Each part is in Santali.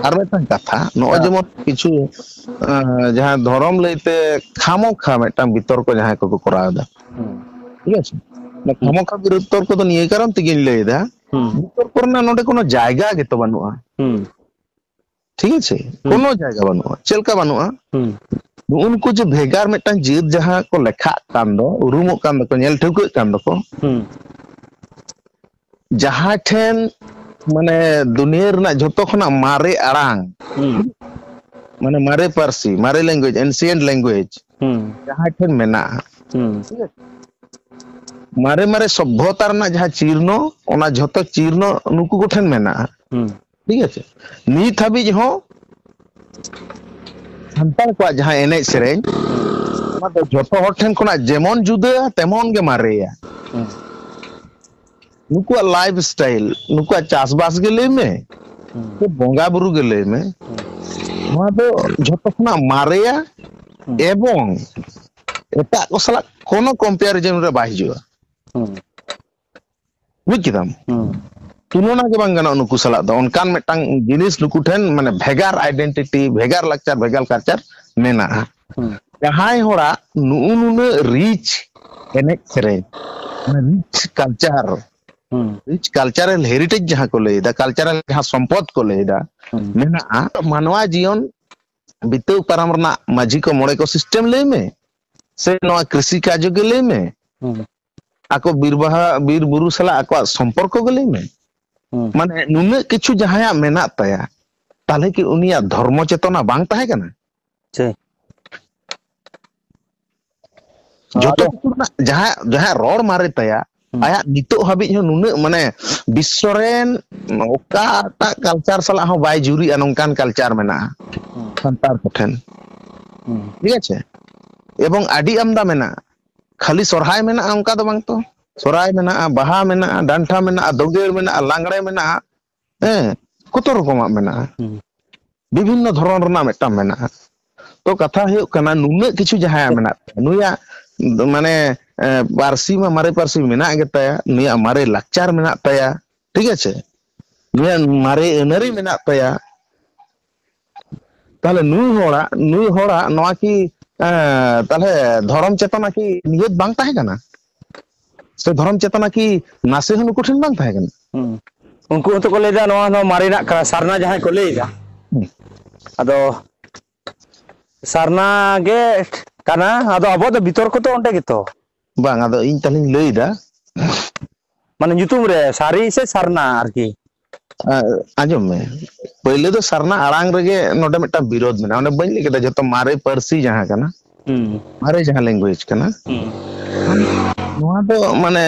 ᱟᱨ ᱢᱤᱫᱴᱟᱝ ᱠᱟᱛᱷᱟ ᱱᱚᱜᱼᱚᱭ ᱦᱮᱸ ᱡᱮᱢᱚᱱ ᱠᱤᱪᱷᱩ ᱡᱟᱦᱟᱸ ᱫᱷᱚᱨᱚᱢ ᱞᱟᱹᱭᱛᱮ ᱠᱷᱟᱢᱳ ᱠᱷᱟ ᱢᱤᱫᱴᱟᱝ ᱵᱤᱛᱚᱨᱠᱚ ᱡᱟᱦᱟᱸᱭ ᱠᱚᱠᱚ ᱠᱚᱨᱟᱣ ᱮᱫᱟ ᱦᱩᱸ ᱴᱷᱤᱠ ᱟᱪᱷᱮ ᱦᱩᱸ ᱠᱷᱟᱢᱳᱠᱷᱟ ᱵᱤᱨᱩᱫᱽᱫᱛᱚᱨ ᱠᱚᱫᱚ ᱱᱤᱭᱟᱹ ᱠᱟᱨᱚᱱ ᱛᱮᱜᱤᱧ ᱞᱟᱹᱭ ᱮᱫᱟ ᱦᱩᱸ ᱵᱤᱛᱚᱨ ᱠᱚ ᱨᱮᱱᱟᱜ ᱱᱚᱰᱮ ᱠᱳᱱᱳ ᱡᱟᱭᱜᱟ ᱜᱮᱛᱚ ᱵᱟᱹᱱᱩᱜᱼᱟ ᱦᱩᱸ ᱴᱷᱤᱠ ᱟᱪᱷᱮ ᱦᱩᱸ ᱠᱳᱱᱳ ᱡᱟᱭᱜᱟ ᱵᱟᱹᱱᱩᱜᱼᱟ ᱪᱮᱫ ᱞᱮᱠᱟ ᱵᱟᱹᱱᱩᱜᱼᱟ ᱦᱩᱸ ᱱᱩᱜᱼᱩ ᱱᱩᱠᱩ ᱡᱮ ᱵᱷᱮᱜᱟᱨ ᱢᱤᱫᱴᱟᱝ ᱡᱟᱹᱛ ᱡᱟᱦᱟᱸ ᱠᱚ ᱞᱮᱠᱷᱟᱜ ᱠᱟᱱ ᱫᱚ ᱩᱨᱩᱢᱚᱜ ᱠᱟᱱ ᱫᱚᱠᱚ ᱧᱮᱞ ᱴᱷᱟᱹᱣᱠᱟᱹᱜ ᱠᱟᱱ ᱫᱚᱠᱚ ᱦᱩᱸ ᱡᱟᱦᱟᱸᱭ ᱴᱷᱮᱱ ᱢᱟᱱᱮ ᱫᱩᱱᱤᱭᱟᱹ ᱨᱮᱱᱟᱜ ᱡᱷᱚᱛᱚ ᱠᱷᱚᱱᱟᱜ ᱢᱟᱨᱮ ᱟᱲᱟᱝ ᱢᱟᱱᱮ ᱢᱟᱨᱮ ᱯᱟᱹᱨᱥᱤ ᱢᱟᱨᱮ ᱞᱮᱝᱜᱩᱭᱮᱡᱽ ᱮᱱᱥᱤᱭᱮᱱᱴ ᱞᱮᱝᱜᱩᱭᱮᱡᱽ ᱡᱟᱦᱟᱸᱭ ᱴᱷᱮᱱ ᱢᱮᱱᱟᱜᱼᱟ ᱢᱟᱨᱮ ᱢᱟᱨᱮ ᱥᱚᱵᱷᱚᱛᱟ ᱨᱮᱱᱟᱜ ᱡᱟᱦᱟᱸ ᱪᱤᱨᱱᱚ ᱚᱱᱟ ᱡᱷᱚᱛᱚ ᱪᱤᱨᱱᱚ ᱱᱩᱠᱩ ᱠᱚᱴᱷᱮᱱ ᱢᱮᱱᱟᱜᱼᱟ ᱴᱷᱤᱠ ᱟᱪᱷᱮ ᱱᱤᱛ ᱦᱟᱹᱵᱤᱡ ᱦᱚᱸ ᱥᱟᱱᱛᱟᱲ ᱠᱚᱣᱟᱜ ᱡᱟᱦᱟᱸ ᱮᱱᱮᱡ ᱥᱮᱨᱮᱧ ᱚᱱᱟ ᱫᱚ ᱡᱚᱛᱚ ᱦᱚᱲ ᱴᱷᱮᱱ ᱠᱷᱚᱱᱟᱜ ᱡᱮᱢᱚᱱ ᱡᱩᱫᱟᱹ ᱛᱮᱢᱚᱱ ᱜᱮ ᱢᱟᱨᱮᱭᱟ ᱱᱩᱠᱩᱣᱟᱜ ᱞᱟᱭᱤᱯᱷ ᱥᱴᱟᱭᱤᱞ ᱱᱩᱠᱩᱣᱟᱜ ᱪᱟᱥᱵᱟᱥ ᱜᱮ ᱞᱟᱹᱭ ᱢᱮ ᱵᱚᱸᱜᱟ ᱵᱩᱨᱩ ᱜᱮ ᱞᱟᱹᱭ ᱢᱮ ᱱᱚᱣᱟ ᱫᱚ ᱡᱷᱚᱛᱚ ᱠᱷᱚᱱᱟᱜ ᱢᱟᱨᱮᱭᱟ ᱮᱵᱚᱝ ᱮᱴᱟᱜ ᱠᱚ ᱥᱟᱞᱟᱜ ᱠᱳᱱᱳ ᱠᱚᱢᱯᱮᱭᱟᱨᱤᱡᱚᱱ ᱨᱮ ᱵᱟᱭ ᱦᱤᱡᱩᱜᱼᱟ ᱵᱩᱡᱽ ᱠᱮᱫᱟᱢ ᱦᱩᱸ ᱛᱩᱞᱚᱱᱟ ᱜᱮ ᱵᱟᱝ ᱜᱟᱱᱚᱜᱼᱟ ᱱᱩᱠᱩ ᱥᱟᱞᱟᱜ ᱫᱚ ᱚᱱᱠᱟᱱ ᱢᱤᱫᱴᱟᱝ ᱡᱤᱱᱤᱥ ᱱᱩᱠᱩ ᱴᱷᱮᱱ ᱢᱟᱱᱮ ᱵᱷᱮᱜᱟᱨ ᱟᱭᱰᱮᱱᱴᱤᱴᱤ ᱵᱷᱮᱜᱟᱨ ᱞᱟᱠᱪᱟᱨ ᱵᱷᱮᱜᱟᱨ ᱠᱟᱞᱪᱟᱨ ᱢᱮᱱᱟᱜᱼᱟ ᱦᱩᱸ ᱡᱟᱦᱟᱸᱭ ᱦᱚᱲᱟᱜ ᱱᱩᱜᱼᱩ ᱱᱩᱱᱟᱹᱜ ᱨᱤᱪ ᱮᱱᱮᱡ ᱥᱮᱨᱮᱧ ᱨᱤᱪ ᱠᱟᱞᱪᱟᱨ ᱦᱩᱸ ᱨᱤᱪ ᱠᱟᱞᱪᱟᱨᱟᱞ ᱦᱮᱨᱤᱴᱮᱡᱽ ᱡᱟᱦᱟᱸ ᱠᱚ ᱞᱟᱹᱭᱫᱟ ᱠᱟᱞᱪᱟᱨᱟᱞ ᱡᱟᱦᱟᱸ ᱥᱚᱢᱯᱚᱫ ᱠᱚ ᱞᱟᱹᱭᱫᱟ ᱦᱩᱸ ᱢᱮᱱᱟᱜᱼᱟ ᱢᱟᱱᱣᱟ ᱡᱤᱭᱚᱱ ᱵᱤᱛᱟᱹᱣ ᱯᱟᱨᱚᱢ ᱨᱮᱱᱟᱜ ᱢᱟᱹᱡᱷᱤ ᱠᱚ ᱢᱚᱬᱮ ᱠᱚ ᱥᱤᱥᱴᱮᱢ ᱞᱟᱹᱭ ᱢᱮ ᱥᱮ ᱱᱚᱣᱟ ᱠᱨᱤᱥᱤ ᱠᱟᱡ ᱜᱮ ᱞᱟᱹᱭ ᱢᱮ ᱦᱩᱸ ᱟᱠᱚ ᱵᱤᱨ ᱵᱟᱦᱟ ᱵᱤᱨ ᱵᱩᱨᱩ ᱥᱟᱞᱟᱜ ᱟᱠᱚᱣᱟᱜ ᱥᱚᱢᱯᱚᱨᱠᱚ ᱜᱮ ᱞᱟᱹᱭ ᱢᱮ ᱦᱩᱸ ᱢᱟᱱᱮ ᱱᱩᱱᱟᱹᱜ ᱠᱤᱪᱷᱩ ᱡᱟᱦᱟᱸᱭᱟᱜ ᱢᱮᱱᱟᱜ ᱛᱟᱭᱟ ᱛᱟᱦᱚᱞᱮ ᱠᱤ ᱩᱱᱤᱭᱟᱜ ᱫᱷᱚᱨᱢᱚ ᱪᱮᱛᱚᱱᱟ ᱵᱟᱝ ᱛᱟᱦᱮᱸ ᱠᱟᱱᱟ ᱪᱮ ᱡᱚᱛᱚ ᱟᱫᱚ ᱠᱤᱪᱷᱩ ᱨᱮᱱᱟᱜ ᱡᱟᱦᱟᱸ ᱡᱟᱦᱟᱸ ᱨᱚᱲ ᱢᱟᱨᱮ ᱛᱟᱭᱟ ᱦᱩᱸ ᱟᱭᱟᱜ ᱱᱤᱛᱚᱜ ᱦᱟᱹᱵᱤᱡ ᱦᱚᱸ ᱱᱩᱱᱟᱹᱜ ᱢᱟᱱᱮ ᱵᱤᱥᱥᱚ ᱨᱮᱱ ᱚᱠᱟᱴᱟᱜ ᱠᱟᱞᱪᱟᱨ ᱥᱟᱞᱟᱜ ᱦᱚᱸ ᱵᱟᱭ ᱡᱩᱨᱤᱜᱼᱟ ᱱᱚᱝᱠᱟᱱ ᱠᱟᱞᱪᱟᱨ ᱢᱮᱱᱟᱜᱼᱟ ᱦᱩᱸ ᱥᱟᱱᱛᱟᱲ ᱠᱚᱴᱷᱮᱱ ᱦᱩᱸ ᱴᱷᱤᱠ ᱟᱪᱷᱮ ᱮᱵᱚᱝ ᱟᱹᱰᱤ ᱟᱢᱫᱟ ᱢᱮᱱᱟᱜᱼᱟ ᱠᱷᱟᱹᱞᱤ ᱥᱚᱨᱦᱟᱭ ᱢᱮᱱᱟᱜᱼᱟ ᱚᱱᱠᱟ ᱫᱚ ᱵᱟᱝ ᱛᱚ ᱥᱚᱨᱦᱟᱭ ᱢᱮᱱᱟᱜᱼᱟ ᱵᱟᱦᱟ ᱢᱮᱱᱟᱜᱼᱟ ᱰᱟᱱᱴᱟ ᱢᱮᱱᱟᱜᱼᱟ ᱫᱳᱸᱜᱮᱲ ᱢᱮᱱᱟᱜᱼᱟ ᱞᱟᱜᱽᱲᱮ ᱢᱮᱱᱟᱜᱼᱟ ᱦᱮᱸ ᱠᱚᱛᱚ ᱨᱚᱠᱚᱢᱟᱜ ᱢᱮᱱᱟᱜᱼᱟ ᱦᱩᱸ ᱵᱤᱵᱷᱤᱱᱱᱚ ᱫᱷᱚᱨᱚᱱ ᱨᱮᱱᱟᱜ ᱢᱤᱫᱴᱟᱝ ᱢᱮᱱᱟᱜᱼᱟ ᱛᱚ ᱠᱟᱛᱷᱟ ᱦᱩᱭᱩᱜ ᱠᱟᱱᱟ ᱱᱩᱱᱟᱹᱜ ᱠᱤᱪᱷᱩ ᱡᱟᱦᱟᱸᱭᱟᱜ ᱢᱮᱱᱟᱜ ᱛᱟᱭᱟ ᱱᱩᱭᱟᱜ ᱢᱟᱱᱮ ᱯᱟᱹᱨᱥᱤ ᱢᱟ ᱢᱟᱨᱮ ᱯᱟᱹᱨᱥᱤ ᱢᱮᱱᱟᱜ ᱜᱮᱛᱟᱭᱟ ᱱᱩᱭᱟᱜ ᱢᱟᱨᱮ ᱞᱟᱠᱪᱟᱨ ᱢᱮᱱᱟᱜ ᱛᱟᱭᱟ ᱴᱷᱤᱠ ᱟᱪᱷᱮ ᱱᱩᱭᱟᱜ ᱢᱟᱨᱮ ᱟᱹᱱᱟᱹᱨᱤ ᱢᱮᱱᱟᱜ ᱛᱟᱭᱟ ᱛᱟᱦᱚᱞᱮ ᱱᱩᱭ ᱦᱚᱲᱟᱜ ᱱᱩᱭ ᱦᱚᱲᱟᱜ ᱱᱚᱣᱟ ᱠᱤ ᱮᱸ ᱛᱟᱦᱚᱞᱮ ᱫᱷᱚᱨᱚᱢ ᱪᱮᱛᱱᱟ ᱠᱤ ᱱᱤᱦᱟᱹᱛ ᱵᱟᱝ ᱛᱟᱦᱮᱸ ᱠᱟᱱᱟ? ᱥᱮ ᱫᱷᱚᱨᱚᱢ ᱪᱮᱛᱱᱟ ᱠᱤ ᱱᱟᱥᱮ ᱦᱚᱸ ᱱᱩᱠᱩ ᱴᱷᱮᱱ ᱵᱟᱝ ᱛᱟᱦᱮᱸ ᱠᱟᱱᱟ? ᱦᱩᱸ ᱩᱱᱠᱩ ᱦᱚᱸᱛᱚ ᱠᱚ ᱞᱟᱹᱭᱫᱟ ᱱᱚᱣᱟ ᱫᱚ ᱢᱟᱨᱮᱱᱟᱜ ᱠᱟᱱᱟ ᱥᱟᱨᱱᱟ ᱡᱟᱦᱟᱸᱭ ᱠᱚ ᱞᱟᱹᱭ ᱮᱫᱟ᱾ ᱦᱩᱸ᱾ ᱟᱫᱚ ᱥᱟᱨᱱᱟ ᱜᱮ ᱠᱟᱱᱟ ᱟᱫᱚ ᱟᱵᱚᱣᱟᱜ ᱫᱚ ᱵᱤᱛᱚᱨᱠᱚ ᱫᱚ ᱚᱸᱰᱮ ᱜᱮᱛᱚ᱾ ᱵᱟᱝ ᱟᱫᱚ ᱤᱧ ᱛᱟᱦᱚᱞᱮᱧ ᱞᱟᱹᱭ ᱮᱫᱟ ᱢᱟᱱᱮ ᱧᱩᱛᱩᱢ ᱨᱮ ᱥᱟᱹᱨᱤ ᱥᱮ ᱥᱟᱨᱱᱟ ᱟᱨᱠᱤ ᱟᱸᱡᱚᱢ ᱢᱮ ᱯᱳᱭᱞᱳ ᱫᱚ ᱥᱟᱨᱱᱟ ᱟᱲᱟᱝ ᱨᱮᱜᱮ ᱱᱚᱰᱮ ᱢᱤᱫᱴᱟᱝ ᱵᱤᱨᱳᱫ ᱢᱮᱱᱟᱜᱼᱟ ᱚᱱᱮ ᱵᱟᱹᱧ ᱞᱟᱹᱭ ᱠᱮᱫᱟ ᱡᱚᱛᱚ ᱢᱟᱨᱮ ᱯᱟᱹᱨᱥᱤ ᱡᱟᱦᱟᱸ ᱠᱟᱱᱟ ᱦᱩᱸ ᱢᱟᱨᱮ ᱡᱟᱦᱟᱸ ᱞᱮᱝᱜᱩᱭᱮᱡᱽ ᱠᱟᱱᱟ ᱦᱩᱸ ᱱᱚᱣᱟ ᱫᱚ ᱢᱟᱱᱮ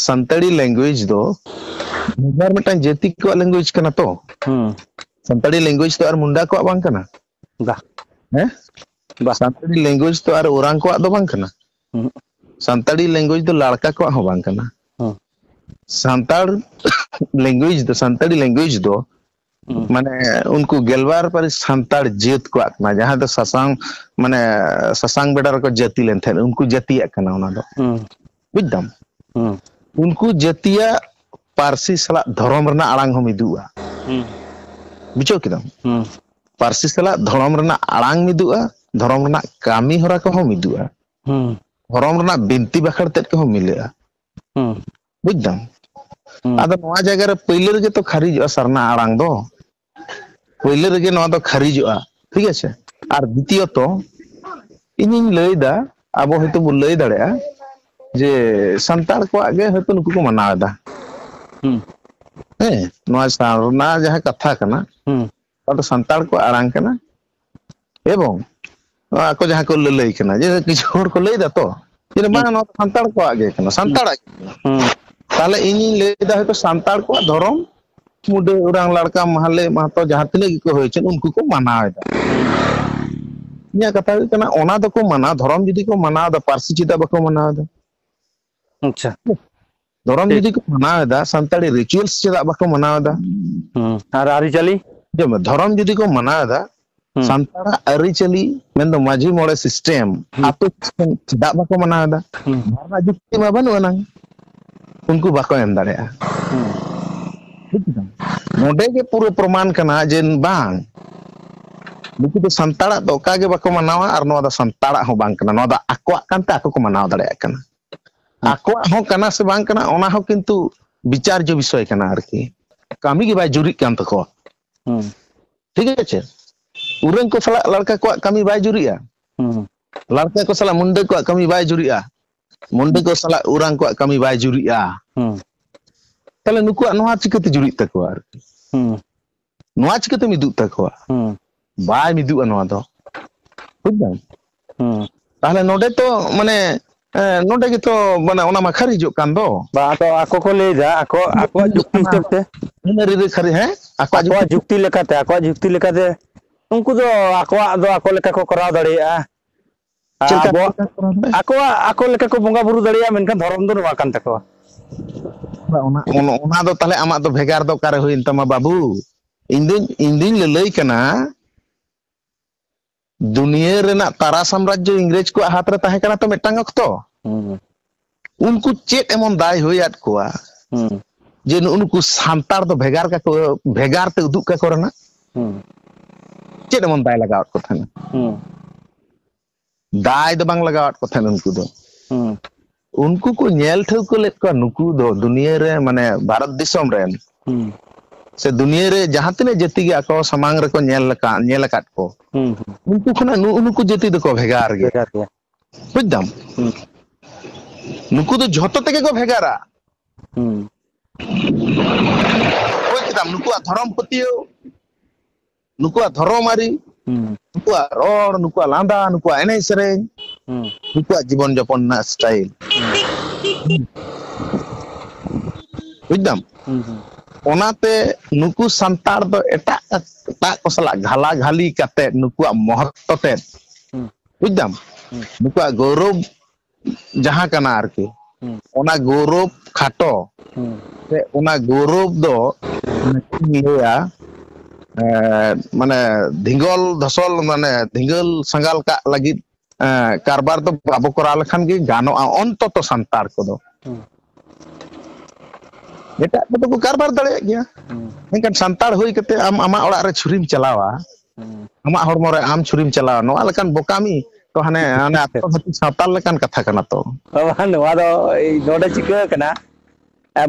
ᱥᱟᱱᱛᱟᱲᱤ ᱞᱮᱝᱜᱩᱭᱮᱡᱽ ᱫᱚ ᱵᱷᱮᱜᱟᱨ ᱢᱤᱫᱴᱟᱝ ᱡᱟᱹᱛᱤ ᱠᱚᱣᱟᱜ ᱞᱮᱝᱜᱩᱭᱮᱡᱽ ᱠᱟᱱᱟ ᱛᱚ ᱦᱩᱸ ᱥᱟᱱᱛᱟᱲᱤ ᱞᱮᱝᱜᱩᱭᱮᱡᱽ ᱫᱚ ᱟᱨ ᱢᱩᱱᱰᱟ ᱠᱚᱣᱟᱜ ᱵᱟᱝ ᱠᱟᱱᱟ ᱵᱟ ᱦᱮᱸ ᱵᱟ ᱥᱟᱱᱛᱟᱲᱤ ᱞᱮᱝᱜᱩᱭᱮᱡᱽ ᱛᱚ ᱟᱨ ᱳᱨᱟᱝ ᱠᱚᱣᱟᱜ ᱫᱚ ᱵᱟᱝ ᱠᱟᱱᱟ ᱦᱩᱸ ᱥᱟᱱᱛᱟᱲᱤ ᱞᱮᱝᱜᱩᱭᱮᱡᱽ ᱫᱚ ᱞᱟᱲᱠᱟ ᱠᱚᱣᱟᱜ ᱦᱚᱸ ᱵᱟᱝ ᱠᱟᱱᱟ ᱦᱩᱸ ᱥᱟᱱᱛᱟᱲ ᱞᱮᱝᱜᱩᱭᱮᱡᱽ ᱫᱚ ᱥᱟᱱᱛᱟᱲᱤ ᱞᱮᱝᱜᱩᱭᱮᱡᱽ ᱫᱚ ᱦᱩᱸ ᱢᱟᱱᱮ ᱩᱱᱠᱩ ᱜᱮᱞᱵᱟᱨ ᱯᱟᱹᱨᱤᱥ ᱥᱟᱱᱛᱟᱲ ᱡᱟᱹᱛ ᱠᱚᱣᱟᱜ ᱠᱟᱱᱟ ᱡᱟᱦᱟᱸ ᱫᱚ ᱥᱟᱥᱟᱝ ᱢᱟᱱᱮ ᱥᱟᱥᱟᱝ ᱵᱮᱰᱟ ᱨᱮᱠᱚ ᱡᱟᱹᱛᱤ ᱞᱮᱱ ᱛᱟᱦᱮᱸᱫ ᱩᱱᱠᱩ ᱡᱟᱹᱛᱤᱭᱟᱜ ᱠᱟᱱᱟ ᱚᱱᱟ ᱫᱚ ᱦᱩᱸ ᱵᱩᱡᱽ ᱫᱟᱢ ᱦᱩᱸ ᱩᱱᱠᱩ ᱡᱟᱹᱛᱤᱭᱟᱜ ᱯᱟᱹᱨᱥᱤ ᱥᱟᱞᱟᱜ ᱫᱷᱚᱨᱚᱢ ᱨᱮᱱᱟᱜ ᱟᱲᱟᱝ ᱦᱚᱸ ᱢᱤᱫᱚᱜᱼᱟ ᱦᱩᱸ ᱵᱩᱡᱷᱟᱹᱣ ᱠᱮᱫᱟᱢ ᱦᱩᱸ ᱯᱟᱹᱨᱥᱤ ᱥᱟᱞᱟᱜ ᱫᱷᱚᱨᱚᱢ ᱨᱮᱱᱟᱜ ᱟᱲᱟᱝ ᱢᱤᱫᱚᱜᱼᱟ ᱫᱷᱚᱨᱚᱢ ᱨᱮᱱᱟᱜ ᱠᱟᱹᱢᱤ ᱦᱚᱨᱟ ᱠᱚᱦᱚᱸ ᱢᱤᱫᱚᱜᱼᱟ ᱦᱩᱸ ᱫᱷᱚᱨᱚᱢ ᱨᱮᱱᱟᱜ ᱵᱤᱱᱛᱤ ᱵᱟᱠᱷᱮᱬ ᱛᱮᱫ ᱠᱚᱦᱚᱸ ᱢᱤᱞᱟᱹᱜᱼᱟ ᱦᱩᱸ ᱵᱩᱡᱽ ᱫᱟᱢ ᱦᱩᱸ ᱟᱫᱚ ᱱᱚᱣᱟ ᱡᱟᱭᱜᱟ ᱨᱮ ᱯᱟᱹᱭᱞᱟᱹ ᱨᱮᱜᱮ ᱛᱚ ᱠᱷᱟᱨᱤᱡᱚᱜᱼᱟ ᱥᱟᱨᱱᱟ ᱟᱲᱟᱝ ᱫᱚ ᱯᱳᱭᱞᱳ ᱨᱮᱜᱮ ᱱᱚᱣᱟ ᱫᱚ ᱠᱷᱟᱹᱨᱤᱡᱚᱜᱼᱟ ᱴᱷᱤᱠ ᱟᱪᱷᱮ ᱟᱨ ᱫᱤᱛᱤᱭᱚᱛᱚ ᱤᱧᱤᱧ ᱞᱟᱹᱭ ᱮᱫᱟ ᱟᱵᱚ ᱦᱚᱭᱛᱳ ᱵᱚᱱ ᱞᱟᱹᱭ ᱫᱟᱲᱮᱭᱟᱜᱼᱟ ᱡᱮ ᱥᱟᱱᱛᱟᱲ ᱠᱚᱣᱟᱜ ᱜᱮ ᱦᱚᱭᱛᱳ ᱱᱩᱠᱩ ᱠᱚ ᱢᱟᱱᱟᱣ ᱮᱫᱟ ᱦᱩᱸ ᱦᱮᱸ ᱱᱚᱣᱟ ᱥᱟᱨᱱᱟ ᱡᱟᱦᱟᱸ ᱠᱟᱛᱷᱟ ᱠᱟᱱᱟ ᱦᱩᱸ ᱱᱚᱣᱟ ᱫᱚ ᱥᱟᱱᱛᱟᱲ ᱠᱚᱣᱟᱜ ᱟᱲᱟᱝ ᱠᱟᱱᱟ ᱮᱵᱚᱝ ᱟᱠᱚ ᱡᱟᱦᱟᱸ ᱠᱚ ᱞᱟᱹᱞᱟᱹᱭ ᱠᱟᱱᱟ ᱡᱮ ᱠᱤᱪᱷᱩ ᱦᱚᱲ ᱠᱚ ᱞᱟᱹᱭ ᱫᱟᱛᱚ ᱡᱮ ᱦᱩᱸ ᱵᱟᱝ ᱱᱚᱣᱟ ᱫᱚ ᱥᱟᱱᱛᱟᱲ ᱠᱚᱣᱟᱜ ᱜᱮ ᱠᱟᱱᱟ ᱦᱩᱸ ᱥᱟᱱᱛᱟᱲᱟᱜ ᱜᱮ ᱠᱟᱱᱟ ᱦᱩᱸ ᱛᱟᱦᱚᱞᱮ ᱤᱧᱤᱧ ᱞᱟᱹᱭ ᱮᱫᱟ ᱦᱚᱭᱛᱚ ᱥᱟᱱᱛᱟᱲ ᱠᱚᱣᱟᱜ ᱫᱷᱚᱨᱚᱢ ᱢᱩᱰᱟᱹ ᱚᱨᱟᱝ ᱞᱟᱲᱠᱟ ᱢᱟᱦᱞᱮ ᱢᱟᱦᱛᱚ ᱡᱟᱦᱟᱸ ᱛᱤᱱᱟᱹᱜ ᱜᱮᱠᱚ ᱦᱩᱭ ᱦᱚᱪᱚ ᱩᱱᱠᱩ ᱠᱚ ᱢᱟᱱᱟᱣ ᱮᱫᱟ ᱦᱩᱸ ᱤᱧᱟᱹᱜ ᱠᱟᱛᱷᱟ ᱦᱩᱭᱩᱜ ᱠᱟᱱᱟ ᱚᱱᱟ ᱫᱚᱠᱚ ᱢᱟᱱᱟᱣ ᱫᱷᱚᱨᱚᱢ ᱡᱩᱫᱤ ᱠᱚ ᱢᱟᱱᱟᱣ ᱮᱫᱟ ᱯᱟᱹᱨᱥᱤ ᱪᱮᱫᱟᱜ ᱵᱟᱠᱚ ᱢᱟᱱᱟᱣ ᱮᱫᱟ ᱟᱪᱪᱷᱟ ᱫᱷᱚᱨᱚᱢ ᱴᱷᱤᱠ ᱡᱩᱫᱤ ᱠᱚ ᱢᱟᱱᱟᱣ ᱮᱫᱟ ᱥᱟᱱᱛᱟᱲᱤ ᱨᱤᱪᱩᱭᱮᱞᱥ ᱪᱮᱫᱟᱜ ᱵᱟᱠᱚ ᱢᱟᱱᱟᱣ ᱮᱫᱟ ᱦᱩᱸ ᱟᱨ ᱟᱨᱤ ᱪᱟᱞᱤ ᱟᱸᱡᱚᱢ ᱢᱮ ᱫᱷᱚᱨᱚᱢ ᱡᱩᱫᱤ ᱠᱚ ᱢᱟᱱᱟᱣ ᱮᱫᱟ ᱦᱩᱸ ᱥᱟᱱᱛᱟᱲᱟᱜ ᱟᱹᱨᱤᱪᱟᱹᱞᱤ ᱢᱮᱱᱫᱚ ᱢᱟᱺᱡᱷᱤ ᱢᱚᱬᱮ ᱥᱤᱥᱴᱮᱢ ᱦᱩᱸ ᱟᱛᱳ ᱫᱤᱥᱚᱢ ᱪᱮᱫᱟᱜ ᱵᱟᱠᱚ ᱢᱟᱱᱟᱣ ᱮᱫᱟ ᱦᱩᱸ ᱱᱚᱣᱟ ᱨᱮᱱᱟᱜ ᱡᱩᱠᱛᱤ ᱢᱟ ᱵᱟᱹᱱᱩᱜ ᱟᱱᱟᱝ ᱩᱱᱠᱩ ᱵᱟᱠᱚ ᱮᱢ ᱫᱟᱲᱮᱭᱟᱜᱼᱟ ᱵᱩᱡᱽ ᱠᱮᱫᱟᱢ ᱱᱚᱰᱮ ᱜᱮ ᱯᱩᱨᱟᱹ ᱯᱨᱚᱢᱟᱱ ᱠᱟᱱᱟ ᱡᱮ ᱵᱟᱝ ᱱᱩᱠᱩ ᱫᱚ ᱥᱟᱱᱛᱟᱲᱟᱜ ᱫᱚ ᱚᱠᱟ ᱜᱮ ᱵᱟᱠᱚ ᱢᱟᱱᱟᱣᱟ ᱟᱨ ᱱᱚᱣᱟ ᱫᱚ ᱥᱟᱱᱛᱟᱲᱟᱜ ᱦᱚᱸ ᱵᱟᱝ ᱠᱟᱱᱟ ᱱᱚᱣᱟ ᱫᱚ ᱟᱠᱚᱣᱟᱜ ᱠᱟᱱᱛᱮ ᱟᱠᱚ ᱠᱚ ᱢᱟᱱᱟᱣ ᱫᱟᱲᱮᱭᱟᱜ ᱠᱟᱱᱟ ᱟᱠᱚᱣᱟᱜ ᱦᱚᱸ ᱠᱟᱱᱟ ᱥᱮ ᱵᱟᱝ ᱠᱟᱱᱟ ᱚᱱᱟ ᱦᱚᱸ ᱠᱤᱱᱛᱩ ᱵᱤᱪᱟᱨᱡᱚ ᱵᱤᱥᱚᱭ ᱠᱟᱱᱟ ᱟᱨᱠᱤ ᱠᱟᱹᱢᱤ ᱜᱮ ᱵᱟᱭ ᱡᱩᱨᱤᱜ ᱠᱟᱱ ᱛᱟᱠᱚᱣᱟ ᱦᱩᱸ ᱴᱷᱤᱠ ᱟᱪᱷᱮ ᱩᱨᱟᱹᱝ ᱠᱚ ᱥᱟᱞᱟᱜ ᱞᱟᱲᱠᱟ ᱠᱚᱣᱟᱜ ᱠᱟᱹᱢᱤ ᱵᱟᱭ ᱡᱩᱨᱤᱜᱼᱟ ᱦᱩᱸ ᱞᱟᱲᱠᱟ ᱠᱚ ᱥᱟᱞᱟᱜ ᱢᱩᱱᱰᱟᱹ ᱠᱚᱣᱟᱜ ᱠᱟᱹᱢᱤ ᱵᱟᱭ ᱡᱩᱨᱤᱜᱼᱟ ᱢᱩᱱᱰᱤ ᱠᱚ ᱥᱟᱞᱟᱜ ᱩᱨᱟᱝ ᱠᱚᱣᱟᱜ ᱠᱟᱹᱢᱤ ᱵᱟᱭ ᱡᱩᱨᱤᱜᱼᱟ ᱦᱩᱸ ᱛᱟᱦᱚᱞᱮ ᱱᱩᱠᱩᱣᱟᱜ ᱱᱚᱣᱟ ᱪᱤᱠᱟᱹᱛᱮ ᱡᱩᱨᱤᱜ ᱛᱟᱠᱚᱣᱟ ᱟᱨᱠᱤ ᱦᱩᱸ ᱱᱚᱣᱟ ᱪᱤᱠᱟᱹᱛᱮ ᱢᱤᱫᱚᱜ ᱛᱟᱠᱚᱣᱟ ᱦᱩᱸ ᱵᱟᱭ ᱢᱤᱫᱚᱜᱼᱟ ᱱᱚᱣᱟ ᱫᱚ ᱵᱩᱡ ᱫᱟᱢ ᱦᱩᱸ ᱛᱟᱦᱚᱞᱮ ᱱᱚᱰᱮ ᱛᱚ ᱢᱟᱱᱮ ᱱᱚᱰᱮ ᱜᱮᱛᱚ ᱢᱟᱱᱮ ᱚᱱᱟ ᱢᱟᱠᱷᱟᱨ ᱦᱤᱡᱩᱜ ᱠᱟᱱ ᱫᱚ ᱵᱟ ᱟᱫᱚ ᱟᱠᱚ ᱠᱚ ᱞᱟᱹᱭᱫᱟ ᱟᱠᱚ ᱟᱠᱚᱣᱟᱜ ᱡᱩᱠᱛᱤ ᱦᱤᱥᱟᱹᱵ ᱛᱮ ᱟᱠᱚᱣᱟᱜ ᱡᱩᱠᱛᱤ ᱞᱮᱠᱟᱛᱮ ᱟᱠᱚᱣᱟᱜ ᱡᱩᱠᱛᱤ ᱞᱮᱠᱟᱛᱮ ᱩᱱᱠᱩ ᱫᱚ ᱟᱠᱚᱣᱟᱜ ᱫᱚ ᱟᱠᱚ ᱞᱮᱠᱟ ᱠᱚ ᱠᱚᱨᱟᱣ ᱫᱟᱲᱮᱭᱟᱜᱼᱟ ᱟᱨ ᱪᱮᱫ ᱞᱮᱠᱟ ᱟᱵᱚᱣᱟᱜ ᱞᱮᱠᱟ ᱠᱚᱨᱟᱣ ᱫᱟᱲᱮᱭᱟᱜᱼᱟ ᱟᱠᱚᱣᱟᱜ ᱟᱠᱚ ᱞᱮᱠᱟ ᱠᱚ ᱵᱚᱸᱜᱟ ᱵᱩᱨᱩ ᱫᱟᱲᱮᱭᱟᱜᱼᱟ ᱢᱮᱱᱠᱷᱟᱱ ᱫᱷᱚᱨᱚᱢ ᱫᱚ ᱱᱚᱣᱟ ᱠᱟᱱ ᱛᱟᱠᱚᱣᱟ ᱚᱱᱟ ᱚᱱᱟ ᱫᱚ ᱛᱟᱦᱚᱞᱮ ᱟᱢᱟᱜ ᱫᱚ ᱵᱷᱮᱜᱟᱨ ᱫᱚ ᱚᱠᱟᱨᱮ ᱦᱩᱭᱮᱱ ᱛᱟᱢᱟ ᱵᱟᱹᱵᱩ ᱤᱧ ᱫᱩᱧ ᱤᱧ ᱫᱩᱧ ᱞᱟᱹᱞᱟᱹᱭ ᱠᱟᱱᱟ ᱫᱩᱱᱭᱟᱹ ᱨᱮᱱᱟᱜ ᱛᱟᱨᱟ ᱥᱟᱢᱨᱟᱡᱽᱡᱚ ᱤᱝᱨᱮᱡᱽ ᱠᱚᱣᱟᱜ ᱦᱟᱛᱨᱮ ᱛᱟᱦᱮᱸ ᱠᱟᱱᱟ ᱛᱚ ᱢᱤᱫᱴᱟᱝ ᱚᱠᱛᱚ ᱦᱩᱸ ᱩᱱᱠᱩ ᱪᱮᱫ ᱮᱢᱚᱱ ᱫᱟᱭ ᱦᱩᱭ ᱟᱫ ᱠᱚᱣᱟ ᱦᱩᱸ ᱡᱮ ᱱᱩᱜᱩ ᱱᱩᱠᱩ ᱥᱟᱱᱛᱟᱲ ᱫᱚ ᱵᱷᱮᱜᱟᱨ ᱠᱟᱠᱚ ᱵᱷᱮᱜᱟᱨ ᱛᱮ ᱩᱫᱩᱜ ᱠᱟᱠᱚ ᱨᱮᱱᱟᱜ ᱦᱩᱸ ᱪᱮᱫ ᱮᱢᱚᱱ ᱫᱟᱭ ᱞᱟᱜᱟᱣᱟᱫ ᱠᱚ ᱛᱟᱦᱮᱱᱟ ᱦᱩᱸ ᱫᱟᱭ ᱫᱚ ᱵᱟᱝ ᱞᱟᱜᱟᱣᱟᱫ ᱠᱚ ᱛᱟᱦᱮᱸᱱ ᱩᱱᱠᱩ ᱫᱚ ᱦᱩᱸ ᱩᱱᱠᱩ ᱠᱚ ᱧᱮᱞ ᱴᱷᱟᱹᱣᱠᱟᱹ ᱞᱮᱫ ᱠᱚᱣᱟ ᱱᱩᱠᱩ ᱫᱚ ᱫᱩᱱᱭᱟᱹ ᱨᱮ ᱢᱟᱱᱮ ᱵᱷᱟᱨᱚᱛ ᱫᱤᱥᱚᱢ ᱨᱮᱱ ᱦᱩᱸ ᱥᱮ ᱫᱩᱱᱭᱟᱹ ᱨᱮ ᱡᱟᱦᱟᱸ ᱛᱤᱱᱟᱹᱜ ᱡᱟᱹᱛᱤ ᱜᱮ ᱟᱠᱚ ᱥᱟᱢᱟᱝ ᱨᱮᱠᱚ ᱧᱮᱞ ᱞᱮᱠᱟ ᱧᱮᱞ ᱟᱠᱟᱫ ᱠᱚ ᱦᱩᱸ ᱦᱩᱸ ᱩᱱᱠᱩ ᱠᱷᱚᱱᱟᱜ ᱱᱩᱜᱩ ᱱᱩᱠᱩ ᱡᱟᱹᱛᱤ ᱫᱚᱠᱚ ᱵᱷᱮᱜᱟᱨ ᱜᱮᱭᱟ ᱵᱩᱡᱽ ᱫᱟᱢ ᱦᱩᱸ ᱱᱩᱠᱩ ᱫᱚ ᱡᱷᱚᱛᱚ ᱛᱮᱜᱮ ᱠᱚ ᱵᱷᱮᱜᱟᱨᱟ ᱦᱩᱸ ᱵᱩᱡᱽ ᱠᱮᱫᱟᱢ ᱱᱩᱠᱩᱣᱟᱜ ᱫᱷᱚᱨᱚᱢ ᱯᱟᱹᱛᱭᱟᱹᱣ ᱱᱩᱠᱩᱣᱟᱜ ᱫᱷᱚᱨᱚᱢ ᱟᱹᱨᱤ ᱦᱩᱸ ᱱᱩᱠᱩᱣᱟᱜ ᱨᱚᱲ ᱱᱩᱠᱩᱣᱟᱜ ᱞᱟᱸᱫᱟ ᱱᱩᱠᱩᱣᱟᱜ ᱮᱱᱮᱡ ᱥᱮᱨᱮᱧ ᱦᱩᱸ ᱱᱩᱠᱩᱣᱟᱜ ᱡᱤᱵᱚᱱ ᱡᱚᱯᱚᱱ ᱨᱮᱱᱟᱜ ᱥᱴᱟᱭᱤᱞ ᱵᱩᱡᱽ ᱫᱟᱢ ᱦᱩᱸ ᱦᱩᱸ ᱚᱱᱟᱛᱮ ᱱᱩᱠᱩ ᱥᱟᱱᱛᱟᱲ ᱫᱚ ᱮᱴᱟᱜ ᱮᱴᱟᱜ ᱠᱚ ᱥᱟᱞᱟᱜ ᱜᱷᱟᱞᱟ ᱜᱷᱟᱹᱞᱤ ᱠᱟᱛᱮᱫ ᱱᱩᱠᱩᱣᱟᱜ ᱢᱚᱦᱚᱛᱛᱚ ᱛᱮᱫ ᱦᱩᱸ ᱵᱩᱡ ᱫᱟᱢ ᱱᱩᱠᱩᱣᱟᱜ ᱜᱚᱨᱚᱵ ᱡᱟᱦᱟᱸ ᱠᱟᱱᱟ ᱟᱨᱠᱤ ᱚᱱᱟ ᱜᱚᱨᱚᱵ ᱠᱷᱟᱴᱚ ᱥᱮ ᱚᱱᱟ ᱜᱚᱨᱚᱵ ᱫᱚ ᱞᱟᱹᱭᱟ ᱢᱟᱱᱮ ᱫᱷᱤᱜᱚᱞ ᱫᱷᱚᱥᱚᱞ ᱢᱟᱱᱮ ᱫᱷᱤᱜᱚᱞ ᱥᱟᱸᱜᱟᱞ ᱠᱟᱜ ᱞᱟᱹᱜᱤᱫ ᱠᱟᱨᱵᱟᱨ ᱫᱚ ᱵᱟᱵᱚ ᱠᱚᱨᱟᱣ ᱞᱮᱠᱷᱟᱱ ᱜᱮ ᱜᱟᱱᱚᱜᱼᱟ ᱚᱱᱛᱚᱛᱚ ᱥᱟᱱᱛᱟᱲ ᱠᱚᱫᱚ ᱮᱴᱟᱜ ᱠᱚᱫᱚ ᱠᱚ ᱠᱟᱨᱵᱟᱨ ᱫᱟᱲᱮᱭᱟᱜ ᱜᱮᱭᱟ ᱢᱮᱱᱠᱷᱟᱱ ᱥᱟᱱᱛᱟᱲ ᱦᱩᱭ ᱠᱟᱛᱮ ᱟᱢ ᱟᱢᱟᱜ ᱚᱲᱟᱜ ᱨᱮ ᱪᱷᱩᱨᱤᱢ ᱪᱟᱞᱟᱣᱟ ᱦᱩᱸ ᱟᱢᱟᱜ ᱦᱚᱲᱢᱚ ᱨᱮ ᱟᱢ ᱪᱷᱩᱨᱤᱢ ᱪᱟᱞᱟᱣᱟ ᱱᱚᱣᱟ ᱞᱮᱠᱟᱱ ᱵᱚᱠᱟᱢᱤ ᱛᱚ ᱦᱟᱱᱮ ᱦᱟᱱᱮ ᱟᱫᱚᱢ ᱡᱟᱹᱛ ᱥᱟᱱᱛᱟᱞ ᱞᱮᱠᱟᱱ ᱠᱟᱛᱷᱟ ᱠᱟᱱᱟ ᱛᱚ ᱵᱟᱵᱟ ᱱᱚᱣᱟ ᱫᱚ ᱱᱚᱰᱮ ᱪᱤᱠᱟᱹ ᱠᱟᱱᱟ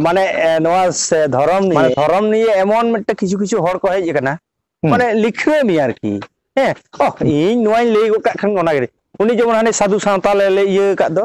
ᱢᱟᱱᱮ ᱱᱚᱣᱟ ᱥᱮ ᱫᱷᱚᱨᱚᱢ ᱢᱟᱱᱮ ᱱᱤᱭᱮ ᱫᱷᱚᱨᱚᱢ ᱱᱤᱭᱮ ᱮᱢᱚᱱ ᱢᱤᱫᱴᱮᱱ ᱠᱤᱪᱷᱩ ᱠᱤᱪᱷᱩ ᱦᱚᱲ ᱠᱚ ᱦᱮᱡ ᱟᱠᱟᱱᱟ ᱦᱩᱸ ᱢᱟᱱᱮ ᱞᱤᱠᱷᱟᱹ ᱢᱮᱭᱟ ᱟᱨᱠᱤ ᱦᱮᱸ ᱚᱦ ᱤᱧ ᱱᱚᱣᱟᱧ ᱞᱟᱹᱭ ᱜᱚᱫ ᱠᱟᱜ ᱠᱷᱟᱱ ᱚᱱᱟᱜᱮ ᱩᱱᱤ ᱡᱮᱢᱚᱱ ᱦᱟᱱᱮ ᱥᱟᱹᱫᱷᱩ ᱥᱟᱶᱛᱟ ᱞᱮ ᱤᱭᱟᱹ ᱟᱠᱟᱫ ᱫᱚ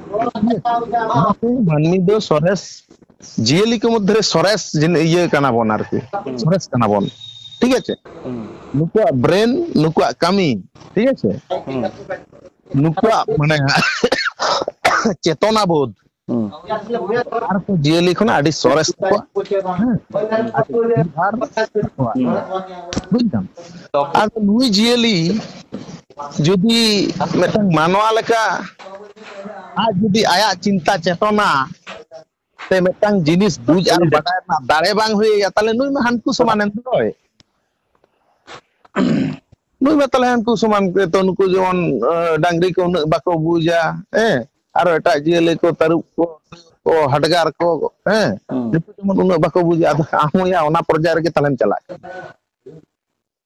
ᱢᱟᱹᱱᱢᱤ ᱫᱚ ᱥᱚᱨᱮᱥ ᱡᱤᱭᱟᱹᱞᱤ ᱠᱚ ᱢᱚᱫᱽᱫᱷᱮ ᱨᱮ ᱥᱚᱨᱮᱥ ᱤᱭᱟᱹ ᱠᱟᱱᱟ ᱵᱚᱱ ᱟᱨᱠᱤ ᱥᱚᱨᱮᱥ ᱠᱟᱱᱟ ᱵᱚᱱ ᱴᱷᱤᱠ ᱟᱪᱷᱮ ᱱᱩᱠᱩᱣᱟᱜ ᱵᱨᱮᱱ ᱱᱩᱠᱩᱣᱟᱜ ᱠᱟᱹᱢᱤ ᱴᱷᱤᱠ ᱟᱪᱷᱮ ᱱᱩᱠᱩᱣᱟᱜ ᱢᱟᱱᱮ ᱪᱮᱛᱚᱱᱟ ᱵᱳধ ᱟᱨ ᱠᱚ ᱡᱤᱭᱟᱹᱞᱤ ᱠᱷᱚᱱᱟᱜ ᱟᱹᱰᱤ ᱥᱚᱨᱮᱥ ᱛᱟᱠᱚᱣᱟ ᱟᱨ ᱵᱩᱡᱽ ᱫᱟᱢ ᱟᱫᱚ ᱱᱩᱭ ᱡᱤᱭᱟᱹᱞᱤ ᱡᱩᱫᱤ ᱢᱤᱫᱴᱟᱝ ᱢᱟᱱᱣᱟ ᱞᱮᱠᱟ ᱟᱡ ᱡᱩᱫᱤ ᱟᱭᱟᱜ ᱪᱤᱱᱛᱟ ᱪᱮᱛᱚᱱᱟ ᱥᱮ ᱢᱤᱫᱴᱟᱝ ᱡᱤᱱᱤᱥ ᱵᱩᱡ ᱟᱨ ᱵᱟᱰᱟᱭ ᱨᱮᱱᱟᱜ ᱫᱟᱲᱮ ᱵᱟᱝ ᱦᱩᱭ ᱟᱭᱟ ᱛᱟᱦᱚᱞᱮ ᱱᱩᱭ ᱢᱟ ᱦᱟᱹᱱᱠᱩ ᱥᱚᱢᱟᱱ ᱮᱱ ᱫᱚᱭ ᱱᱩᱭ ᱢᱟ ᱛᱟᱦᱚᱞᱮ ᱦᱟᱹᱱᱠᱩ ᱥᱚᱢᱟᱱ ᱛᱚ ᱱᱩᱠᱩ ᱡᱮᱢᱚᱱ ᱰᱟᱝᱨᱤ ᱠᱚ ᱩᱱᱟᱹᱜ ᱵᱟᱠᱚ ᱵᱩᱡᱟ ᱦᱮᱸ ᱟᱨᱚ ᱮᱴᱟᱜ ᱡᱤᱭᱟᱹᱞᱤ ᱠᱚ ᱛᱟᱹᱨᱩᱵ ᱠᱚ ᱠᱚ ᱦᱟᱰᱜᱟᱨ ᱠᱚ ᱦᱮᱸ ᱦᱩᱸ ᱱᱩᱠᱩ ᱡᱮᱢᱚᱱ ᱩᱱᱟᱹᱜ ᱵᱟᱠᱚ ᱵᱩᱡᱟ ᱟᱫᱚ ᱟᱢ ᱦᱚᱸᱭᱟ ᱚᱱᱟ ᱯᱚᱨᱡᱟᱭ ᱨᱮᱜᱮ ᱛᱟᱦᱚᱞᱮᱢ ᱪᱟᱞᱟᱜ ᱠᱟᱱᱟ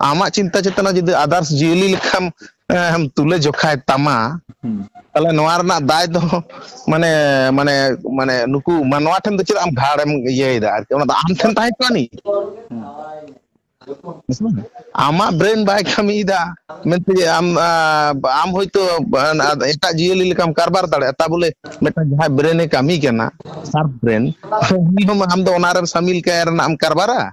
ᱟᱢᱟᱜ ᱪᱤᱱᱛᱟᱹ ᱪᱮᱛᱱᱟ ᱡᱩᱫᱤ ᱟᱫᱟᱨᱥ ᱡᱤᱭᱟᱹᱞᱤ ᱞᱮᱠᱟᱢ ᱮᱢ ᱛᱩᱞᱟᱹ ᱡᱚᱠᱷᱟᱭ ᱛᱟᱢᱟ ᱛᱟᱦᱚᱞᱮ ᱱᱚᱣᱟ ᱨᱮᱱᱟᱜ ᱫᱟᱭ ᱫᱚ ᱢᱟᱱᱮ ᱢᱟᱱᱮ ᱢᱟᱱᱮ ᱱᱩᱠᱩ ᱢᱟᱱᱣᱟ ᱴᱷᱮᱱ ᱫᱚ ᱪᱮᱫᱟᱜ ᱟᱢ ᱜᱷᱟᱲᱮᱢ ᱤᱭᱟᱹᱭᱮᱫᱟ ᱟᱨᱠᱤ ᱚᱱᱟ ᱫᱚ ᱟᱢ ᱴᱷᱮᱱ ᱛᱟᱦᱮᱸ ᱠᱚᱜᱼᱟ ᱱᱤ ᱟᱢᱟᱜ ᱵᱨᱮᱱ ᱵᱟᱭ ᱠᱟᱹᱢᱤᱭᱮᱫᱟ ᱢᱮᱱᱛᱮ ᱟᱢ ᱟᱢ ᱦᱚᱭᱛᱳ ᱮᱴᱟᱜ ᱡᱤᱭᱟᱹᱞᱤ ᱞᱮᱠᱟᱢ ᱠᱟᱨᱵᱟᱨ ᱫᱟᱲᱮᱭᱟᱜᱼᱟ ᱛᱟ ᱵᱚᱞᱮ ᱢᱤᱫᱴᱟᱝ ᱡᱟᱦᱟᱸᱭ ᱵᱨᱮᱱᱮ ᱠᱟᱹᱢᱤ ᱠᱟᱱᱟ ᱥᱟᱨᱯ ᱵᱨᱮᱱ ᱩᱱᱤ ᱦᱚᱸ ᱟᱢ ᱫᱚ ᱚᱱᱟᱨᱮᱢ ᱥᱟᱢᱤᱞ ᱠᱟᱭ ᱨᱮᱱᱟᱜ ᱮᱢ ᱠᱟᱨᱵᱟᱨᱟ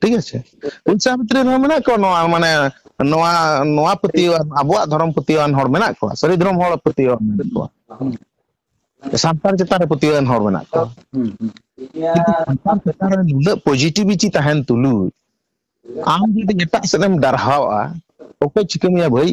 ᱴᱷᱤᱠ ᱟᱪᱷᱮ ᱩᱱᱥᱟ ᱵᱷᱤᱛᱨᱤ ᱨᱮᱦᱚᱸ ᱢᱮᱱᱟᱜ ᱠᱚᱣᱟ ᱱᱚᱣᱟ ᱢᱟᱱᱮ ᱱᱚᱣᱟ ᱱᱚᱣᱟ ᱯᱟᱹᱛᱭᱟᱹᱣᱟᱱ ᱟᱵᱚᱣᱟᱜ ᱫᱷᱚᱨᱚᱢ ᱯᱟᱹᱛᱭᱟᱹᱣᱟᱱ ᱦᱚᱲ ᱢᱮᱱᱟᱜ ᱠᱚᱣᱟ ᱥᱟᱹᱨᱤ ᱫᱷᱚᱨᱚᱢ ᱦᱚᱲ ᱯᱟᱹᱛᱭᱟᱹᱣᱟᱱ ᱢᱮᱱᱟᱜ ᱠᱚᱣᱟ ᱥᱟᱱᱛᱟᱲ ᱪᱮᱛᱟᱱ ᱨᱮ ᱯᱟᱹᱛᱭᱟᱹᱣᱟᱱ ᱦᱚᱲ ᱢᱮᱱᱟᱜ ᱠᱚᱣᱟ ᱥᱟᱱᱛᱟᱲ ᱪᱮᱛᱟᱱ ᱨᱮ ᱱᱩᱱᱟᱹᱜ ᱯᱚᱡᱤᱴᱤᱵᱷᱤᱴᱤ ᱛᱟᱦᱮᱱ ᱛᱩᱞᱩᱡ ᱟᱢ ᱡᱩᱫᱤ ᱮᱴᱟᱜ ᱥᱮᱫ ᱮᱢ ᱰᱟᱨᱦᱟᱣᱟ ᱚᱠᱚᱭ ᱪᱤᱠᱟᱹ ᱢᱮᱭᱟ ᱵᱷᱟᱹᱭ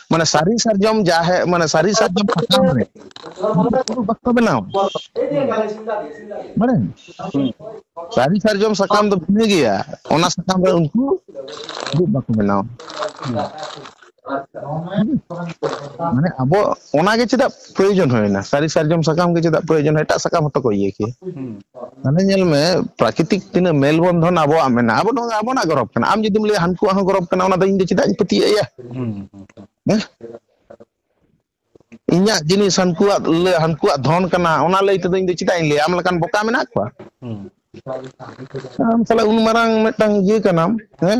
ᱢᱟᱱᱮ ᱥᱟᱹᱨᱤ ᱥᱟᱨᱡᱚᱢ ᱡᱟᱦᱮ ᱢᱟᱱᱮ ᱥᱟᱹᱨᱤ ᱥᱟᱨᱡᱚᱢ ᱥᱟᱠᱟᱢ ᱨᱮ ᱵᱟᱠᱚ ᱵᱮᱱᱟᱣ ᱢᱟᱱᱮ ᱥᱟᱹᱨᱤ ᱥᱟᱨᱡᱚᱢ ᱥᱟᱠᱟᱢ ᱫᱚ ᱵᱷᱤᱱᱟᱹ ᱜᱮᱭᱟ ᱚᱱᱟ ᱥᱟᱠᱟᱢ ᱨᱮ ᱩᱱᱠᱩ ᱫᱩᱲᱩᱵ ᱵᱟᱠᱚ ᱵᱮᱱᱟᱣᱟ ᱢᱟᱱᱮ ᱟᱵᱚ ᱚᱱᱟᱜᱮ ᱪᱮᱫᱟᱜ ᱯᱨᱚᱭᱳᱡᱚᱱ ᱦᱩᱭᱱᱟ ᱥᱟᱹᱨᱤ ᱥᱟᱨᱡᱚᱢ ᱥᱟᱠᱟᱢ ᱜᱮ ᱪᱮᱫᱟᱜ ᱯᱨᱚᱭᱳᱡᱚᱱ ᱮᱴᱟᱜ ᱥᱟᱠᱟᱢ ᱦᱚᱸᱛᱚ ᱠᱚ ᱤᱭᱟᱹ ᱠᱮᱭᱟ ᱢᱟᱱᱮ ᱧᱮᱞ ᱢᱮ ᱯᱨᱟᱠᱨᱤᱛᱤᱠ ᱛᱤᱱᱟᱹᱜ ᱢᱮᱞ ᱵᱚᱱᱫᱷᱚᱱ ᱟᱵᱚᱣᱟᱜ ᱢᱮᱱᱟᱜᱼᱟ ᱟᱵᱚ ᱱᱚᱣᱟ ᱟᱵᱚᱱᱟᱜ ᱜᱚᱨᱚᱵᱽ ᱠᱟᱱᱟ ᱟᱢ ᱡᱩᱫᱤᱢ ᱞᱟᱹᱭᱟ ᱦᱟᱹᱱᱠᱩᱣᱟᱜ ᱦᱚᱸ ᱜᱚᱨᱚᱵᱽ ᱠᱟᱱᱟ ᱚᱱᱟ ᱫᱚ ᱤᱧ ᱫᱚ ᱪᱮᱫᱟᱜ ᱤᱧ ᱯᱟᱹᱛᱭᱟᱹᱜ ᱮᱭᱟ ᱦᱮᱸ ᱤᱧᱟᱹᱜ ᱡᱤᱱᱤᱥ ᱦᱟᱹᱱᱠᱩᱣᱟᱜ ᱞᱟᱹᱭ ᱦᱟᱹᱱᱠᱩᱣᱟᱜ ᱫᱷᱚᱱ ᱠᱟᱱᱟ ᱚᱱᱟ ᱞᱟᱹᱭ ᱛᱮᱫᱚ ᱤᱧ ᱫᱚ ᱪᱮᱫᱟᱜ ᱤᱧ ᱞᱟᱹᱭᱟ ᱟᱢ ᱞᱮᱠᱟᱱ ᱵᱚᱠᱟ ᱢᱮᱱᱟᱜ ᱠᱚᱣᱟ ᱦᱩᱸ ᱟᱢ ᱥᱟᱞᱟᱜ ᱩᱱ ᱢᱟᱨᱟᱝ ᱢᱤᱫᱴᱟᱝ ᱤᱭᱟᱹ ᱠᱟᱱᱟᱢ ᱦᱮᱸ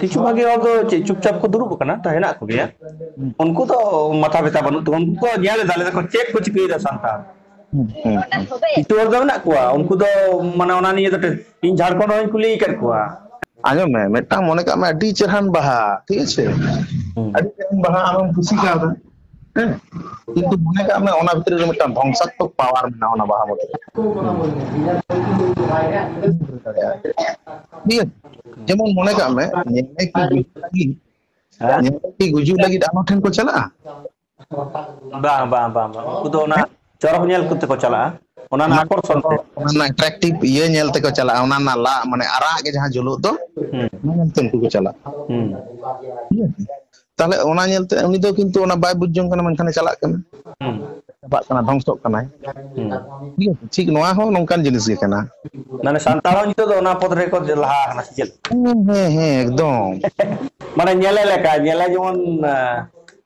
ᱠᱤᱪᱷᱩ ᱦᱳᱭ ᱵᱷᱟᱜᱤ ᱦᱚᱲ ᱫᱚ ᱪᱮᱫ ᱪᱩᱯᱪᱟᱯ ᱠᱚ ᱫᱩᱲᱩᱵ ᱟᱠᱟᱱᱟ ᱛᱚ ᱦᱮᱱᱟᱜ ᱠᱚᱜᱮᱭᱟ ᱦᱩᱸ ᱩᱱᱠᱩ ᱫᱚ ᱢᱟᱛᱟ ᱵᱮᱛᱟ ᱵᱟᱹᱱᱩᱜ ᱛᱟᱠᱚᱣᱟ ᱩᱱᱠᱩ ᱠᱚ ᱧᱮᱞ ᱮᱫᱟ ᱞᱟᱹᱭ ᱫᱟᱠᱚ ᱪᱮᱫ ᱠᱚ ᱪᱤᱠᱟᱹᱭᱮᱫᱟ ᱥᱟᱱᱛᱟᱲ ᱦᱩᱸ ᱦᱩᱸ ᱦᱩᱸ ᱠᱤᱪᱷᱩ ᱦᱚᱲ ᱫᱚ ᱢᱮᱱᱟᱜ ᱠᱚᱣᱟ ᱩᱱᱠᱩ ᱫᱚ ᱢᱟᱱᱮ ᱚᱱᱟ ᱱᱤᱭᱮ ᱫᱚ ᱤᱧ ᱡᱷᱟᱲᱠᱷᱚᱸᱰ ᱦᱚᱸᱧ ᱠᱩᱞᱤ ᱟᱠᱟᱫ ᱠᱚᱣᱟ ᱟᱸᱡᱚᱢ ᱢᱮ ᱢᱤᱫᱴᱟᱝ ᱢᱚᱱᱮ ᱠᱟᱜ ᱢᱮ ᱟᱹᱰᱤ ᱪᱮᱦᱨᱟᱱ ᱵᱟᱦᱟ ᱴᱷᱤᱠ ᱟᱪᱷᱮ ᱦᱩᱸ ᱟᱹᱰᱤ ᱪᱮᱦᱨᱟᱱ ᱵᱟᱦᱟ ᱟᱢᱮᱢ ᱠᱩᱥᱤ ᱠᱟᱣᱫᱟ ᱦᱮᱸ ᱠᱤᱱᱛᱩ ᱢᱚᱱᱮ ᱠᱟᱜ ᱢᱮ ᱚᱱᱟ ᱵᱷᱤᱛᱨᱤ ᱨᱮ ᱢᱤᱫᱴᱟᱝ ᱫᱷᱚᱝᱥᱟᱛᱢᱚᱠ ᱯᱟᱣᱟᱨ ᱢᱮᱱᱟᱜᱼᱟ ᱚᱱᱟ ᱵᱟᱦᱟ ᱢᱚᱱᱫᱤᱞ ᱨᱮ ᱴᱷᱤᱠ ᱡᱮᱢᱚᱱ ᱢᱚᱱᱮ ᱠᱟᱜ ᱢᱮ ᱧᱮᱞ ᱠᱤ ᱜᱩᱡᱩᱜ ᱞᱟᱹᱜᱤᱫ ᱦᱮᱸ ᱧᱮᱞ ᱠᱤ ᱜᱩᱡᱩᱜ ᱞᱟᱹᱜᱤᱫ ᱟᱨᱦᱚᱸ ᱴᱷᱮᱱ ᱠᱚ ᱪᱟᱞᱟᱜᱼᱟ ᱵᱟᱝ ᱵᱟᱝ ᱵᱟᱝ ᱵᱟᱝ ᱩᱱᱠᱩ ᱫᱚ ᱚᱱᱟ ᱪᱚᱨᱚᱠ ᱧᱮᱞ ᱠᱚᱛᱮ ᱠᱚ ᱪᱟᱞᱟᱜᱼᱟ ᱚᱱᱟ ᱨᱮᱱᱟᱜ ᱟᱠᱚᱨᱥᱚᱱ ᱛᱮ ᱚᱱᱟ ᱨᱮᱱᱟᱜ ᱮᱴᱨᱟᱠᱴᱤᱵᱷ ᱤᱭᱟᱹ ᱧᱮᱞ ᱛᱮᱠᱚ ᱪᱟᱞᱟᱜᱼᱟ ᱚᱱᱟ ᱨᱮᱱᱟᱜ ᱞᱟᱜ ᱢᱟᱱᱮ ᱟᱨᱟᱜ ᱜᱮ ᱡᱟᱦᱟᱸ ᱡᱩᱞᱩᱜ ᱫᱚ ᱦᱩᱸ ᱚᱱᱟ ᱧᱮᱞ ᱛᱮ ᱩᱱᱠᱩ ᱠᱚ ᱪᱟᱞᱟᱜᱼᱟ ᱦᱩᱸ ᱛᱟᱦᱚᱞᱮ ᱚᱱᱟ ᱧᱮᱞᱛᱮ ᱩᱱᱤ ᱫᱚ ᱠᱤᱱᱛᱩ ᱚᱱᱟ ᱵᱟᱭ ᱵᱩᱡᱽ ᱡᱚᱝ ᱠᱟᱱᱟ ᱢᱮᱱᱠᱷᱟᱱᱮ ᱪᱟᱞᱟᱜ ᱠᱟᱱᱟ ᱦᱩᱸ ᱪᱟᱵᱟᱜ ᱠᱟᱱᱟ ᱫᱷᱚᱝᱥᱚᱜ ᱠᱟᱱᱟᱭ ᱦᱩᱸ ᱴᱷᱤᱠ ᱟᱪᱷᱮ ᱴᱷᱤᱠ ᱱᱚᱣᱟ ᱦᱚᱸ ᱱᱚᱝᱠᱟᱱ ᱡᱤᱱᱤᱥ ᱜᱮ ᱠᱟᱱᱟ ᱢᱟᱱᱮ ᱥᱟᱱᱛᱟᱲ ᱦᱚᱸ ᱱᱤᱛᱚᱜ ᱫᱚ ᱚᱱᱟ ᱯᱚᱫ ᱨᱮᱠᱚ ᱞᱟᱦᱟ ᱟᱠᱟᱱᱟ ᱥᱮ ᱪᱮᱫ ᱦᱮᱸ ᱦᱮᱸ ᱦᱮᱸ ᱮᱠᱫᱚᱢ ᱢᱟᱱᱮ ᱧᱮᱞᱮ ᱞᱮᱠᱟ ᱧᱮᱞᱮ ᱡᱮᱢᱚᱱ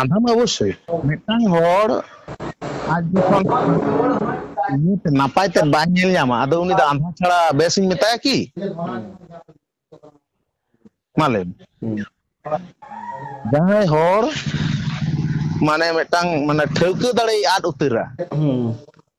ᱟᱫᱷᱚᱢ ᱚᱵᱚᱥᱥᱳᱭ ᱢᱤᱫᱴᱟᱝ ᱦᱚᱲ ᱟᱡ ᱡᱚᱠᱷᱚᱱ ᱱᱟᱯᱟᱭ ᱛᱮ ᱵᱟᱭ ᱧᱮᱞ ᱧᱟᱢᱟ ᱟᱫᱚ ᱩᱱᱤ ᱫᱚ ᱟᱸᱫᱷᱟ ᱪᱷᱟᱲᱟ ᱵᱮᱥᱤᱧ ᱢᱮᱛᱟᱭᱟ ᱠᱤ ᱢᱟ ᱞᱟᱹᱭ ᱡᱟᱦᱟᱸᱭ ᱦᱚᱲ ᱢᱟᱱᱮ ᱢᱤᱫᱴᱟᱝ ᱢᱟᱱᱮ ᱴᱷᱟᱹᱣᱠᱟᱹ ᱫᱟᱲᱮᱭ ᱟᱫ ᱩᱛᱟᱹᱨᱟ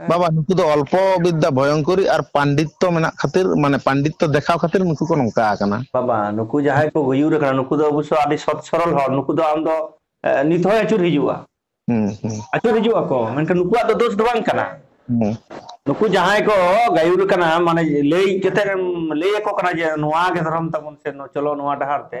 ᱦᱮᱸ ᱵᱟᱵᱟ ᱱᱩᱠᱩ ᱫᱚ ᱚᱞᱯᱚ ᱵᱤᱫᱽᱫᱟ ᱵᱷᱚᱭᱚᱝᱠᱚᱨᱤ ᱟᱨ ᱯᱟᱱᱰᱤᱛᱚ ᱢᱮᱱᱟᱜ ᱠᱷᱟᱹᱛᱤᱨ ᱢᱟᱱᱮ ᱯᱟᱱᱰᱤᱛᱚ ᱫᱮᱠᱷᱟᱣ ᱠᱷᱟᱹᱛᱤᱨ ᱱᱩᱠᱩ ᱠᱚ ᱱᱚᱝᱠᱟ ᱟᱠᱟᱱᱟ ᱵᱟᱵᱟ ᱱᱩᱠᱩ ᱡᱟᱦᱟᱸᱭ ᱠᱚ ᱜᱩᱭᱩᱨ ᱟᱠᱟᱱᱟ ᱱᱩᱠᱩ ᱫᱚ ᱚᱵᱚᱥᱳ ᱟᱹᱰᱤ ᱥᱚᱛ ᱥᱚᱨᱚᱞ ᱦᱚᱲ ᱱᱩᱠᱩ ᱫᱚ ᱟᱢ ᱫᱚ ᱱᱤᱛ ᱦᱚᱸᱭ ᱟᱹᱪᱩᱨ ᱦᱤᱡᱩᱜᱼᱟ ᱦᱩᱸ ᱦᱩᱸ ᱟᱹᱪᱩᱨ ᱦᱤᱡᱩᱜ ᱟᱠᱚ ᱢᱮᱱᱠᱷᱟᱱ ᱱᱩᱠᱩᱣᱟᱜ ᱫᱚ ᱫᱳᱥ ᱫᱚ ᱵᱟᱝ ᱠᱟᱱᱟ ᱦᱩᱸ ᱱᱩᱠᱩ ᱡᱟᱦᱟᱸᱭ ᱠᱚ ᱜᱟᱹᱭᱩᱨ ᱠᱟᱱᱟ ᱢᱟᱱᱮ ᱞᱟᱹᱭ ᱠᱟᱛᱮᱫ ᱮᱢ ᱞᱟᱹᱭ ᱟᱠᱚ ᱠᱟᱱᱟ ᱡᱮ ᱱᱚᱣᱟ ᱜᱮ ᱫᱷᱚᱨᱚᱢ ᱛᱟᱵᱚᱱ ᱥᱮ ᱪᱚᱞᱚ ᱱᱚᱣᱟ ᱰᱟᱦᱟᱨ ᱛᱮ